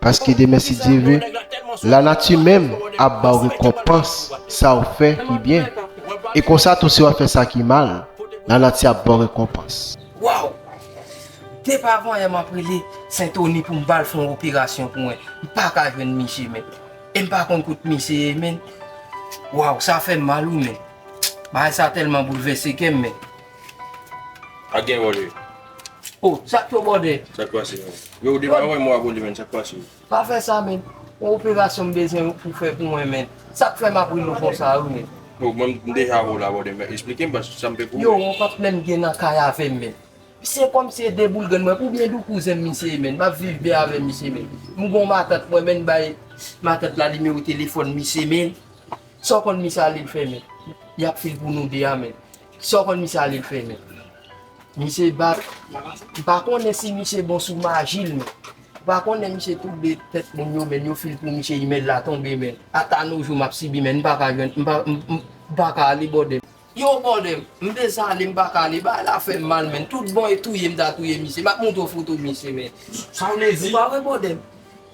Paske demen si Dye ve, lanati menm ap ba w rekonpans sa w fè ki byen. E konsa tou si w ap fè sa ki mal, lanati ap ba w rekonpans. Waww! Depi avan yè m ap rele Sentoni pou m ba l fè yon operasyon pou mwen. M pa ka jwenn misye men. E m pa konn kot misye ye men. Waww sa fè m mal wi men. Bagay sa tèlman boulvèse kè m men. Ak gen yon lè. Oh sak yo bòde. Sak pase menm. Yo ou devan mwen mwen ap olye menn sak pase yo. Pa fè sa menn. Yon operasyon m bezwen ou pou fè pou mwen menn. Sak fè map ri nou konsa wi menn. Oh mwen m deja wè w la bòde menn esplike m paske sam fè pou ou menn. Yo yon pap menm gen nan kay avèm menn. Se kòm se de boulgèn mwen oubyen dou kouzen m misye ye menn map viv byen avè misye menn. M gon matant mwen menn bay matant la nimewo telefòn misye menn. Sa w konn misye ale l fè menn. Yap fè l pou nou 2 a menn. Saw konn misye ale fè menm. Misye bat, m pa konnen si misye bon sou maji l menm. M pa konnen misye twouble tèt moun yo menn yo fil pou misye imèl la tonbe menn. Ata no jou map sibi menn m pa ka jwenn m pa ka ale bòdè m. Yow bòdè m, m dezale m pa ka ale bagay la fèm mal menn. Tout bon e touye m ta touye misye. Map montre w foto misye menn. Sa vle di? Ou pa wè bòdè m.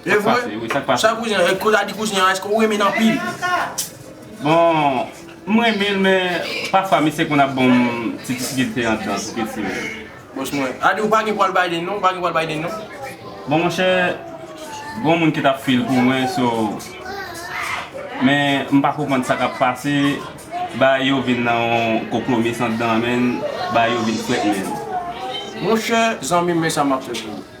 Sak pase wi, sak pase? Sa kouzen an, kote a di kouzen an, eske ou renmen l anpil? Bon, m renmen l men, pafwa misye konn ap ban m ti difikilte antan pou piti m yo. Bòs mwen, a di ou pa gen pwal Biden non, ou pa gen pwal Biden non? Bon monchè, gon moun ki t ap fè l pou mwen so, men m pa konprann sa k ap pase, bagay yo vin nan yon konpwomis andan men, bagay yo vin frèt menn. Monchè, zanmi m men sa m ap fè pou ou.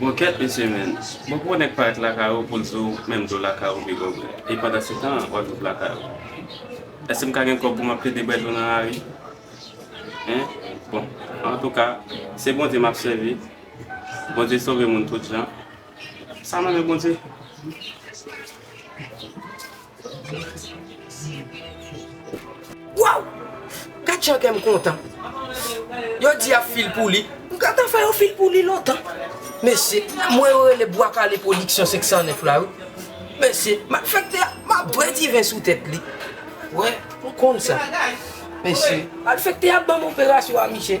Bon kèt mesye menn, bon pou nèg parèt lakay ou poul di w menm dlo lakay ou pi bon vre e pandan se tan an wap viv lakay ou èske m ka gen kòb pou map plede bwè dlo nan lari hein bon antouka se Bondye map sèvi Bondye sove moun tout jan sa nan men Bondye. Waww gad jan kèm kontan yo di yap fil pou li m gentan fè yon fil pou li lontan mesye mwen yo rele bwa kale production 509 la wi mesye map fè knte map dwe diven sou tèt li wè ou konn sa mesye map fè knte yap banm operasyon a misye.